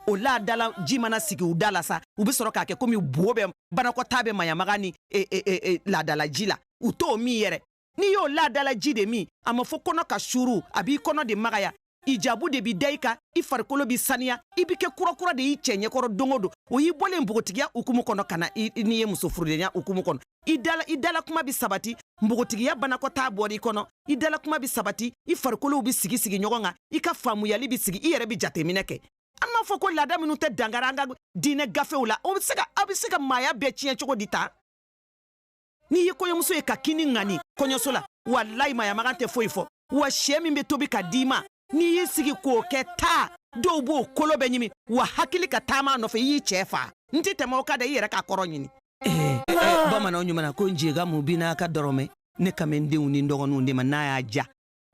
o laadala ji mana sigi u da la sa u be sɔrɔ k'a kɛ komi buo bɛ banakɔtaa bɛ mayamaga ni e, e, e, e, laadala ji la u t'o min yɛrɛ n'i y'o laadala ji de min a ma fɔ kɔnɔ ka suuru a b'i kɔnɔ de magaya i jabu de b'i da i kan i farikolo bi saniya i bɛ kɛ kurakura de y'i cɛ ɲɛkɔrɔ don o don o y'i bɔlen npogotigiya hukumu kɔnɔ ka na n'i ye muso furudenya hukumu kɔnɔ i dala i dala kuma bi sabati npogotigiya banakɔtaa bɔra i kɔnɔ i dala kuma bi sabati i farikolow bi sigi sigi ɲɔgɔn kan i ka faamuyali bi sigi i yɛrɛ bi jateminɛ kɛ an b'a fɔ ko laada minnu tɛ dankari an ka diinɛ gafew la o bɛ se ka aw bɛ se ka maaya bɛɛ tiɲɛ cogo di tan n'i ye kɔɲɔmuso ye ka kini ŋani kɔɲɔso la walayi mayamagan tɛ foyi fɔ wa sɛ min bɛ tobi ka d'i ma n'i y'i sigi k'o kɛ taa dɔw b'o kolo bɛɛ ɲimi wa hakili ka taama nɔfɛ i y'i cɛ fa n tɛ tɛmɛ o kan dɛ i yɛrɛ k'a kɔrɔ ɲini eh, eh, bamananw ɲuman ko njega mu bi n'a ka dɔrɔmɛ ne ka n denw ni dɔgɔninw de ma n'a y'a ja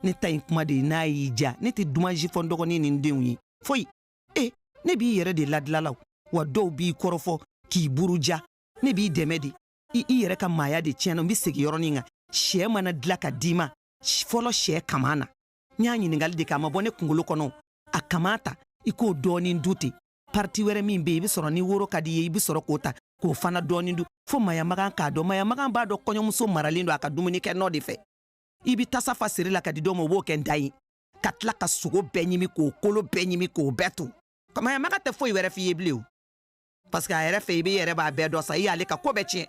ne ta in kuma de ye n'a y'i ja ne tɛ dumanji fɔ n dɔgɔnin ni n denw ye foyi e ne b'i yɛrɛ de ladilala wa dɔw b'i kɔrɔfɔ k'i buruja ne b'i dɛmɛ de i i yɛrɛ ka maaya de tiɲɛna n bɛ segin yɔrɔnin kan sɛ mana dilan ka d'i ma fɔlɔ sɛ kaman na n y'a ɲiningali de kɛ a ma bɔ ne kungolo kɔnɔ a kaman ta i k'o dɔɔnin dun ten pariti wɛrɛ min be yen i be sɔrɔ ni woro ka d'i ye i be sɔrɔ k'o ta k'o fana dɔɔnin dun fo mayamagan k'a dɔn mayamagan b'a dɔn kɔɲɔmuso maralen don a ka dumuni kɛ nɔ de fɛ i be tasa fa seri la ka di dɔ ma o b'o kɛ n da ye ka tila ka sogo bɛɛ ɲimi k'o kolo bɛɛ ɲimi k'o bɛɛ to mayamaga tɛ foyi wɛrɛ f'i ye bilen o parseke a yɛrɛ fɛ i be yɛrɛ b'a bɛɛ dɔn sa i y'ale ka ko bɛɛ tiɲɛ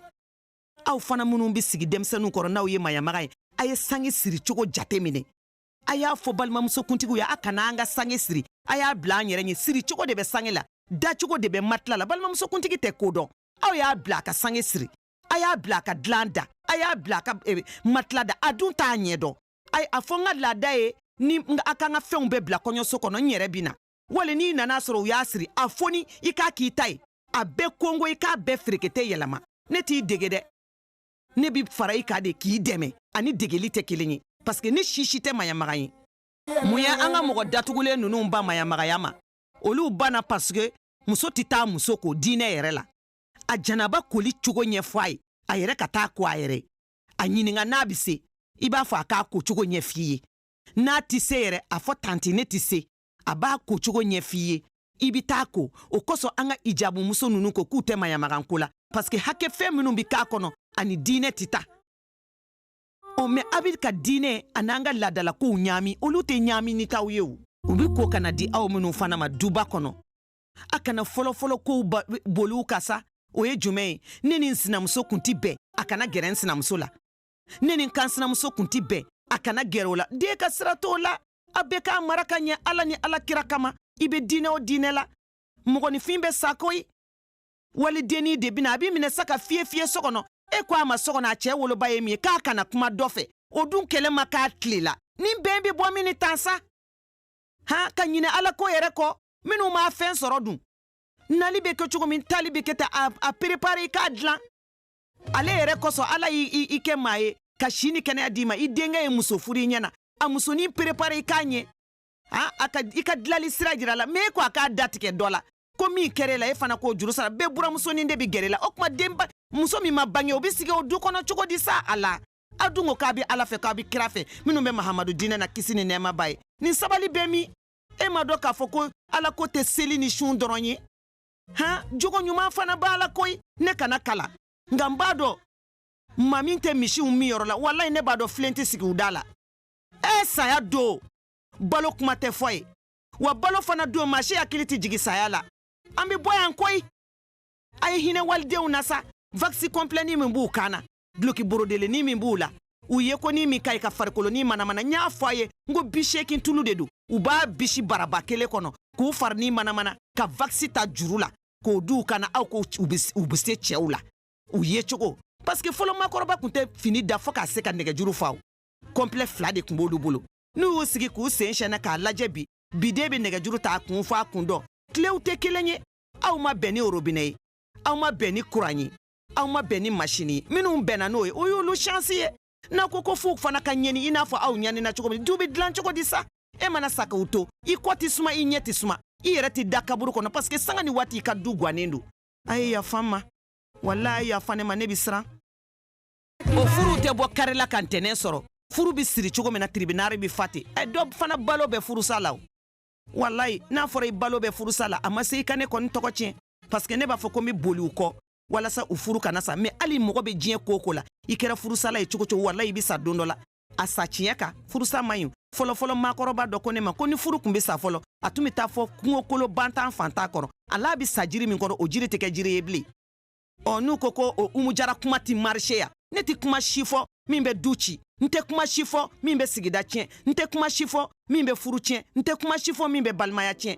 aw fana minnu bɛ sigi denmisɛnninw kɔrɔ n'aw ye mayamaga ye a ye sange siri cogo jate minɛ a y'a fɔ balimamusokuntigiw ye a kana an ka sange siri a y'a bila an yɛrɛ ɲɛ siricogo de bɛ sange la dacogo de bɛ matila la balimamusokuntigi tɛ ko dɔn aw y'a bila a ka sange siri a y'a bila a ka dilan da a y'a bila a ka eh, matila da a dun t'a ɲɛ dɔn ayi a fɔ n ka laada ye ni a k'an ka fɛnw bɛɛ bila kɔɲɔso kɔnɔ n yɛrɛ bɛ na wali n'i nan'a sɔrɔ u y'a siri a foni i k'a k'i ta ye a bɛɛ kongo i k'a bɛɛ ferekete yɛlɛma ne t'i dege dɛ ne bɛ fara i kan de k'i dɛmɛ ani degeli tɛ kelen ye parseke ne si si tɛ maɲamaga ye mun ye an ka mɔgɔ datugulen ninnu ban maɲamagaya ma olu banna parseke muso tɛ taa muso ko diinɛ yɛrɛ la a janaba koli cogo ɲɛfɔ a ye a yɛrɛ ka t'a ko a yɛrɛ ye a ɲininka n'a bɛ se i b'a fɔ a k'a ko cogo ɲɛf'i ye n'a tɛ se yɛrɛ a fɔ tanti ne tɛ se a b'a ko cogo ɲɛf'i ye i bɛ t'a ko o kosɔn an ka ijabu muso ninnu ko k'u tɛ maɲamaganko la paske hakɛ fɛn minnu bɛ k'a kɔnɔ ani diinɛ tɛ taa ɔ mɛ a bɛ ka diinɛ an'an ka laadalakow ɲaami olu tɛ ɲaami nin taw ye o u bɛ ko ka na di aw minnu fana ma duba kɔnɔ a kana fɔlɔfɔlɔ kow boli u kan sa o ye jumɛn ye ne ni n sinamuso kun tɛ bɛn a kana gɛrɛ n sinamuso la ne ni n kansinamuso kun tɛ bɛn a kana gɛrɛ o la den ka sira t'o la a bɛ k'a mara ka ɲɛ ala ni ala kira kama i bɛ diinɛ o diinɛ la mɔgɔninfin bɛ sa koyi walidennin de bɛna a b'i minɛ sa ka fiye fiye so kɔnɔ e ko a ma so kɔnɔ a cɛ woloba ye min ye k'a kana kuma dɔ fɛ o dun kɛlɛ ma k'a tile la ni bɛn bɛ bɔ min ni tan sa han ka ɲinɛ ala ko yɛrɛ kɔ minnu ma fɛn sɔrɔ dun nali bɛ kɛ cogo min taali bɛ kɛ ten a perepare i k'a dilan ale yɛrɛ kosɔn ala y'i kɛ maa ye ka si ni kɛnɛya d'i ma i denkɛ ye muso furu i ɲɛna a musonin perepare i k'a ɲɛ a i ka dilali sira jir'a la mɛ e ko a k'a datigɛ dɔ la ko min kɛr'e la i fana k'o juru sara bɛɛ buranmusonin de bɛ gɛr'e la o tuma denba muso min ma bange o bɛ sigi o du kɔnɔ cogo di sa a la aw dun ko k'a bɛ ala fɛ k'a bɛ kira fɛ minnu bɛ mahamadu diinɛ na kisi ni nɛɛma b'a ye nin sabali bɛ min e m'a dɔn k'a fɔ ko ala ko tɛ seli ni sun dɔrɔn ye han jogo ɲuman fana b'a la koyi ne kana kalan nka n b'a dɔn n ma min tɛ misiw min yɔrɔ la walayi ne b'a dɔn filen tɛ sigi u da la e saya don balo kuma tɛ fɔ yen wa balo fana don maa si hakili tɛ jigin saya la an bɛ bɔ yan koyi a ye hinɛ walidenw na sa vakisi kɔnpilɛni min b'u kan na duloki borodelennin min b'u la u ye ko ni min ka ɲi ka farikolonin manamana n y'a fɔ a ye n ko bi seegin tulu de don u b'a bisi baraba kelen kɔnɔ k'u farini manamana ka vakisi ta juru la k'o don u kan na aw ko u bɛ se cɛw la u ye cogo parce que fɔlɔ makɔrɔba tun tɛ fini da fo k'a se ka nɛgɛjuru fa o kɔnpilɛ fila de tun b'olu bolo n'u y'u sigi k'u sen sɛɛnɛ k'a lajɛ bi biden bɛ nɛgɛjuru ta a kun fo a kun dɔ tilew tɛ kelen ye aw ma bɛn ni orobinɛ ye aw ma bɛn ni kuran ye aw ma bɛn ni masini ye minnu bɛnna n'o ye o y'olu shansi ye n'a ko ko f'u fana ka ɲani i n'a fɔ aw ɲanina cogo min du bɛ dilan cogo di sa e mana sa k'u to i kɔ tɛ suma i ɲɛ tɛ suma i yɛrɛ tɛ da kaburu kɔnɔ parce que sanga ni waati i ka du gwannen don a ye yafa n ma wala a ye yafa ne ma ne bɛ siran o furuw tɛ bɔ kari la ka ntɛnɛn sɔrɔ furu bɛ siri cogo min na tiribinari bɛ fa ten ɛ dɔ fana balo bɛ furusa la o walayi n'a fɔra i balo bɛ furusa la a ma se i ka ne kɔni tɔgɔ tiɲɛ paske ne b'a fɔ ko n bɛ boli u kɔ walasa u furu kana sa mɛ hali mɔgɔ bɛ diɲɛ ko o ko la i kɛra furusala ye cogo o cogo walayi i bɛ sa don dɔ la a sa tiɲɛ kan furusa man ɲi fɔlɔfɔlɔ maakɔrɔba dɔ ko ne ma ko ni furu tun bɛ sa fɔlɔ a tun bɛ taa fɔ kungokolon bantan fantan kɔrɔ a la bɛ sa jiri min kɔrɔ o jiri tɛ kɛ jiri ye bilen ɔ n'u ko ko o umu jara kuma tɛ marise yan ne tɛ kuma si fɔ min bɛ du ci n tɛ kuma si fɔ min bɛ sigida tiɲɛ n tɛ kuma si fɔ min bɛ furu tiɲɛ n tɛ kuma si fɔ min bɛ balimaya tiɲɛ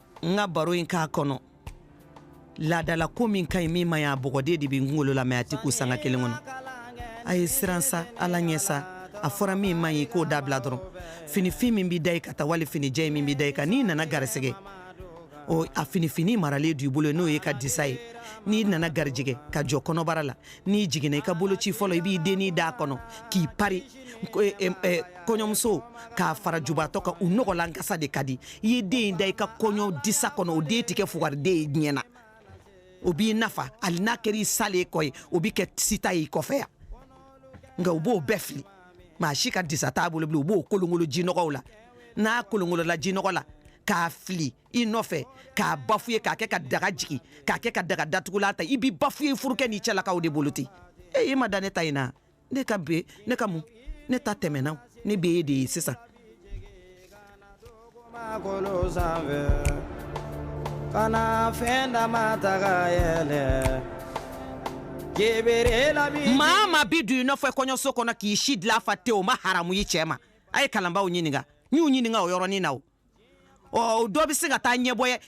n ka baro in k'a kɔnɔ laadalako min ka ɲi min man ɲi a bɔgɔden de bɛ n kunkolo la mɛ a tɛ k'u sanga kelen kɔnɔ a ye siran sa ala ɲɛ sa a fɔra min man ɲi k'o dabila dɔrɔn finifin min bɛ da i kan taa wali finijɛ min bɛ da i kan n'i nana garisɛgɛ o a finifin maralen don i bolo n'o y'i ka disa ye n'i nana garijɛgɛ ka jɔ kɔnɔbara la n'i jiginna i ka boloci fɔlɔ i b'i dennin d'a kɔnɔ k'i pari kɔɲɔmuso k'a fara jubatɔ kan u nɔgɔlankasa de ka di i ye den in da i ka kɔɲɔ disa kɔnɔ o den tɛ kɛ fugariden ye diɲɛ na o b'i nafa hali n'a kɛra i salen kɔ ye o bɛ kɛ sita y'i kɔfɛ yan nka u b'o bɛɛ fili maa si ka disa t'a bolo bilen u b'o kolonkolo jinɔgɔw la n'a kolonkolola jinɔgɔ la k'a fili i nɔfɛ k'a bafuye k'a kɛ ka daga jigin k'a kɛ ka daga datugulan ta i b'i bafuye furukɛ n'i cɛlakaw de bolo ten e i ma da ne ta in na ne ka be ne ka mun ne ta tɛmɛna ne be ye de ye sisan kana fɛn dama taga yɛlɛ maa ma bi don i nɔfɛ kɔɲɔso kɔnɔ k'i si dila fa te o ma haramu i cɛɛ ma a ye kalanbaw ɲininga n y'u ɲininga o yɔrɔnin na o ɔ dɔ be se ka taa ɲɛbɔya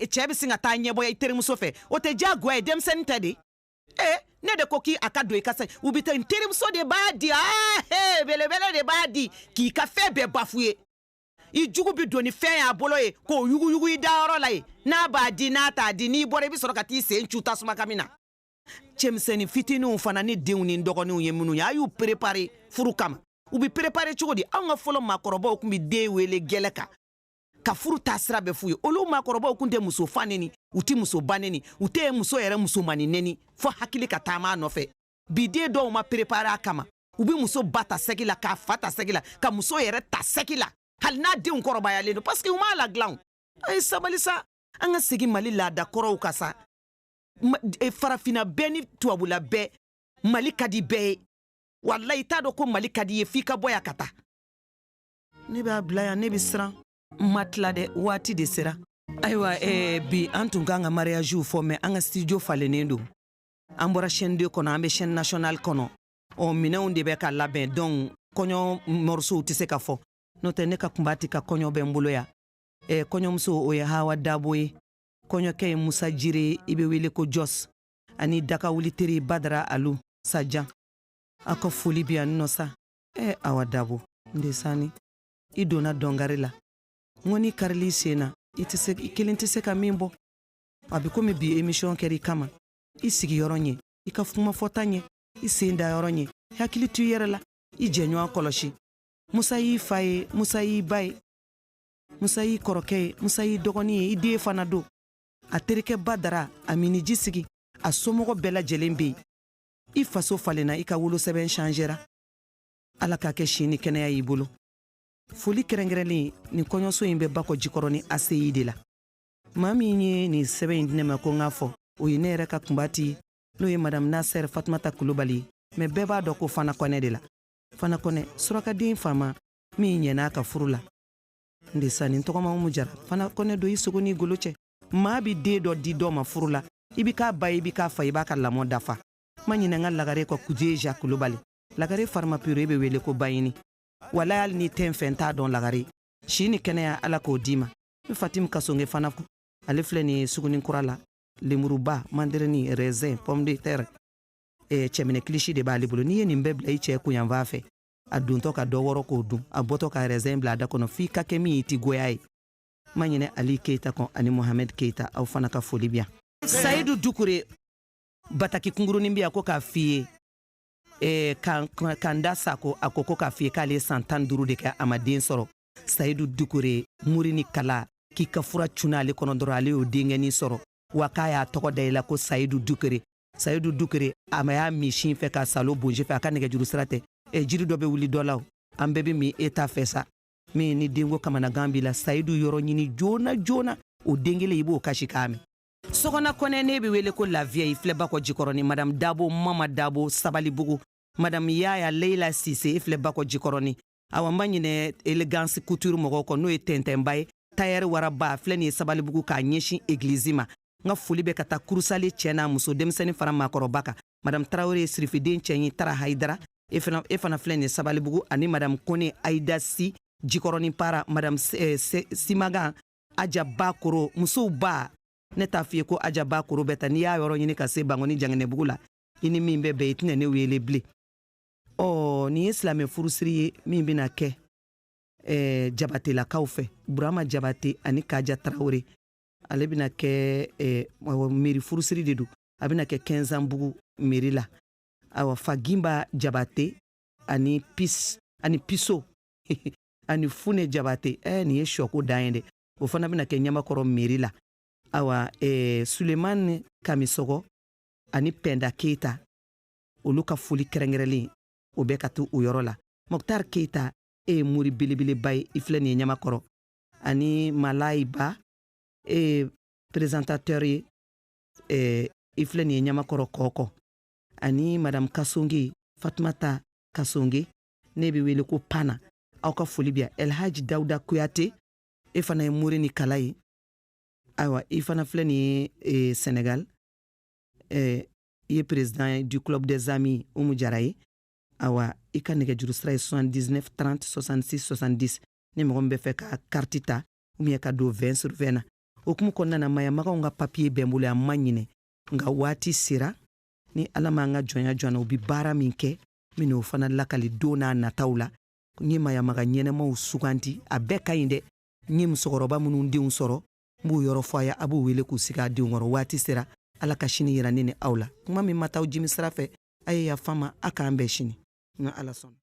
cɛɛ be se ka taa ɲɛbɔya i terimuso fɛ o tɛ diyagoya ye denmisɛnnin tɛ de ee ne de ko k'i a ka don i ka sa u bɛ taa n terimuso de b'a di aa he belebele de b'a di k'i ka fɛn bɛɛ bafuye i jugu bɛ don ni fɛn y'a bolo ye k'o yuguyugu i dayɔrɔ la ye n'a b'a di n'a t'a di n'i bɔra i bɛ sɔrɔ ka t'i sen cu tasuma kami na cɛmisɛnnin fitininw fana n'i denw n'i dɔgɔninw ye minnu ye a y'u perepare furu kama u bɛ perepare cogo di anw ka fɔlɔ maakɔrɔbaw tun bɛ den wele gɛlɛ kan ka furu taa sira bɛɛ f'u ye olu maakɔrɔbaw kun tɛ muso fa neni u tɛ muso ba neni u tɛ muso yɛrɛ musomani neni fɔ hakili ka taama a nɔfɛ bi den dɔw ma perepare a kama u bɛ muso ba ta sɛgi la k'a fa ta sɛgi la ka muso yɛrɛ ta sɛgi la hali n'a denw kɔrɔbayalen don paseke u m'a ladilan a ye sabali sa an ka segin mali laada kɔrɔw kan sa e, farafinna bɛɛ ni tubabula bɛɛ mali ka di bɛɛ ye walayi i t'a dɔn ko mali ka di ye f'i ka bɔ yan ka taa ne b'a bila yan ne bɛ siran n ma tila dɛ waati de sera ayiwa eh, bi an tun kan ka mariyaziw fɔ mɛ an ka studio falennen don an bɔra chaîne 2 kɔnɔ an bɛ chaîne nationale kɔnɔ ɔ minɛnw de bɛ ka labɛn donc kɔɲɔ mɔrisow tɛ se ka fɔ n'o tɛ ne ka kunba ti ka kɔɲɔ bɛ n bolo yan eh, kɔɲɔmuso o ye hawa dabo ye kɔɲɔkɛ ye musa jire i bɛ wele ko jos ani dakawuli teri badara alu sajan a ka foli bi yan nɔ sa ɛ awa dabo n de sanni i donna dɔnkari la n ko n'i karili i sen na i tɛ se i kelen tɛ se ka min bɔ a bɛ komi bi emisiyɔn kɛra i kama i sigiyɔrɔ ɲɛ i ka kumafɔta ɲɛ i sen dayɔrɔ ɲɛ i hakili to i yɛrɛ la i jɛɲɔgɔn kɔlɔsi musa y'i fa ye musa y'i ba ye musa y'i kɔrɔkɛ ye musa y'i dɔgɔnin ye i den fana don a terikɛ badara a miniji sigi a somɔgɔ bɛɛ lajɛlen bɛ yen i faso falenna i ka wolosɛbɛn changera ala k'a kɛ si ni kɛnɛya y'i bolo foli kɛrɛnkɛrɛnlen nin kɔɲɔso in bɛ bakɔ jikɔrɔni aseyi de la maa min ye nin sɛbɛn in di ne ma ko n k'a fɔ o ye ne yɛrɛ ka kunba ti n'o ye madamu nasɛr fatumata kulubali ye mɛ bɛɛ b'a dɔn ko fana kɔnɛ de la fana kɔnɛ surakaden faama min ɲɛn'a ka furu la n de sanni tɔgɔmaw mu jara fɛn kana don i sogo n'i golo cɛ maa bi den dɔ di dɔ ma furu la i bi k'a ba ye i bi k'a fa i b'a ka lamɔ dafa n ma ɲinɛ n ka lagare kɔ kuje ja kulubali lagare farimapure i be wele ko bayini wala hali n'i tɛ n fɛ n t'a dɔn lagare si ni kɛnɛya ala k'o d'i ma n fatim kasonge fana kɔ ale filɛ nin suguni kura la lemuruba mandirini raisin pomme de terre eh, cɛminɛ kilisi de b'ale bolo n'i ye nin bɛɛ bila i cɛ kun yanfan fɛ a dontɔ ka dɔ wɔrɔ k'o dun a bɔtɔ ka raisin bila a da kɔnɔ f'i ka kɛ min i ti goy'a ye ma ɲinɛ ali keyita kɔ ani mohamɛd keyita aw fana ka foli bi yan sayidu dukure bataki kungurunin bi yan ko k'a f'i ye eh, kanda sako a ko ko k'a f'i ye k'ale san tan duru de kɛ a ma den sɔrɔ sayidu dukure muri ni kala k'i ka fura cunna ale kɔnɔ dɔrɔn ale y'o denkɛnin sɔrɔ wa k'a y'a tɔgɔ da i la ko sayidu dukere sayidu dukere a ma y'a min sin fɛ ka salo bonje fɛ a ka nɛgɛjuru sira tɛ e jiri dɔ bɛ wuli dɔ la o an bɛɛ bɛ min e ta fɛ sa min ni denko kamanagan b'i la sayidu yɔrɔ ɲini joona joona o den kelen i b'o kasikan mɛn sokona kɔnɛ n'i bɛ wele ko la vieille i filɛ bakɔ jikɔrɔni madamu dabo mama dabo sabalibugu madamu yaya leila sise i filɛ bakɔ jikɔrɔni awa n ma ɲinɛ elegance couture mɔgɔw kɔ n'o ye tɛntɛnba ye tayɛri waraba filɛ nin ye sabalibugu k'a ɲɛsin egilizi ma n ka foli bɛ ka taa kurusale cɛ n'a muso denmisɛnnin fara maakɔrɔba kan madame tarawele ye sirifiden cɛ ye tara hayidara e fana e fana filɛ nin sabalibugu ani madame kone ayida si jikɔrɔnin para madame eh, simagan aja bakoro musow ba ne t'a f'i ye ko aja bakoro bɛ ta n'i y'a yɔrɔ ɲini ka se bankɔni janginɛbugu la i ni min bɛ bɛn i tɛna ne wele bilen ɔ nin ye silamɛ furusiri ye min bɛna kɛ eh, jabatelakaw fɛ burama jabate ani kaja tarawele ale bɛna kɛ eh, mɛri furusiri de don a bɛna kɛ kɛnsanbugu mɛri la awa fagimba jabate ani pis ani piso ani fune jabate eh, nin ye sɔko dan ye dɛ o fana bɛna kɛ ɲamakɔrɔ mɛri la awa eh, sulemani kamisɔgɔ ani pɛnda keyita olu ka foli kɛrɛnkɛrɛnlen o bɛ ka t'u yɔrɔ la mɔktar keyita e ye mori belebeleba ye i filɛ nin ye ɲamakɔrɔ ani malayi ba e ye perezantatɛri ye eh, i filɛ nin ye ɲamakɔrɔ kɔkɔ ani madamu kasonge fatumata kasonge n'e bɛ wele ko pana aw ka foli bi yan elhaji dawuda kuyate e fana ye mori ni kala ye ayiwa i fana filɛ nin ye eh, senegal eh, i ye perezidan du club des amis umu jara ye awa i ka nɛgɛjuru sira ye 79 30 66 70 ni mɔgɔ min b'a fɛ ka kariti ta ubiyɛn ka don vɛn sur vɛn na o kuma kɔnɔna na mayamaganw ka papiye bɛ n bolo yan n ma ɲinɛ nka waati sera ni ala m'an ka jɔnya jɔn na u bi baara min kɛ n bɛn'o fana lakali don n'a nataw la n ye mayamaga ɲɛnamaw sugandi a bɛɛ ka ɲi dɛ n ye musokɔrɔba minnu denw sɔrɔ n b'u yɔrɔ fɔ a ye a b'u wele k'u sigi a denw kɔrɔ waati sera ala ka sini yira ne ni aw la kuma min ma t'aw jimi sira fɛ a ye yafa n ma a k'an bɛn sini n ka ala sɔnna